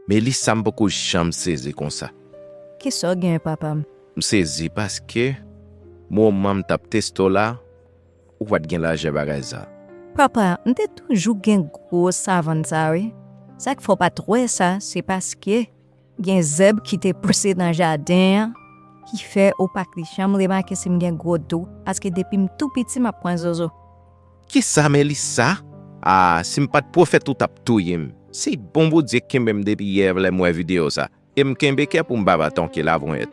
Melissa m poko janm sezi konsa. Kisa w gen papa m. M sezi paske moman m tap teste w la ou pat gen lajè bagay sa. Papa m te toujou gen gwo savann sa wi sak fè w pat wè sa se paske gen zèb ki te pouse nan jaden an ki fè ou pat janm remake si m gen gwo do paske depi m tou piti map pran zozo. Kisa Melissa? Ah si m pat pwofèt ou tap touyem. Se bon Bondye k kenbem depi yè lèm wè video sa em kenbe kè poum pa va ton kilabonyet.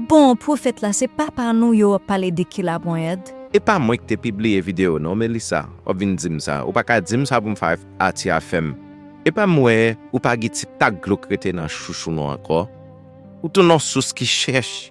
Bon pwofèt la se papa nou yo wap pale de kilabonyèd. Epa mwen ki te pibliye video non Melissa wap vin dim sa ou paka dim sa poum fè Ati a fèm epa m wè ou pa gen ti tak dlo k rete nan chouchou nou ankò ou tou non sous ki chèch.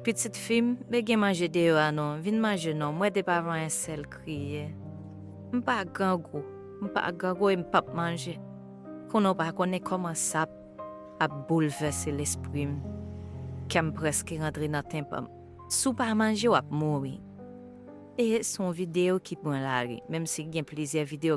Pitit fi m, me gen manje deyò a non, vin manje non, m wè depi avan yon sèl kriye. M pa grangou, m pa grangou e m p ap manje. Konnen w pa konnen kòman sa ap boulvèse lespri m. Kè m prèske rantre nan tenpan m. Si w pa manje w ap mouri. E se yon videyo ki pran lari, menm si gen plizyè videyo.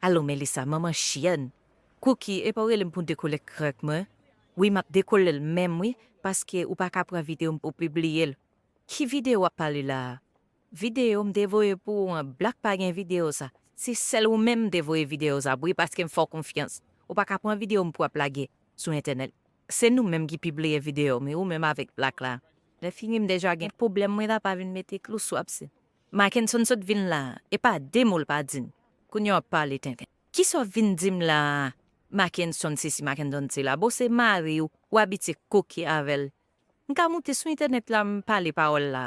Alo Melissa manman chyèn Cookie epa ou relem poun dekole krèk mwen wi map dekolel menm wi paske ou paka pran video m pou pibliyel ki video wap pale la a. Video m te voye pou ou an black pa gen video sa. Se sèl ou menm m te voye video sa pou wi paske m fè w konfyans. Ou pa ka pran video m pou ap lage sou entènèt. Se nou menm ki pibliye video m wi ou menm avèk black la. Lè fini m deja gen pwoblèm mwen ta pa vin mete klou sou abse. Mackenson sot vin la a e pa de mo l pa di m. Kounye w ap pale tenten. Kisa w vin di m la a Mackenson sesi Mackenson sela. Bon se mari w ou abitye koke avè l M ka moute sou entènèt la m pale pawòl la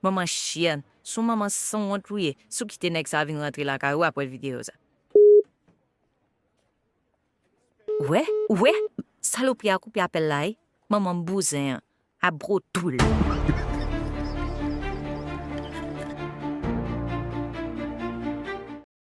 manman chyèn son manman sanwont ou ye si w kite nèg sa vin rantre lakay ou aprè videyo sa. Ou wè ou wè salopri a koupe apèl la wi manman bouzen an a gro dou l.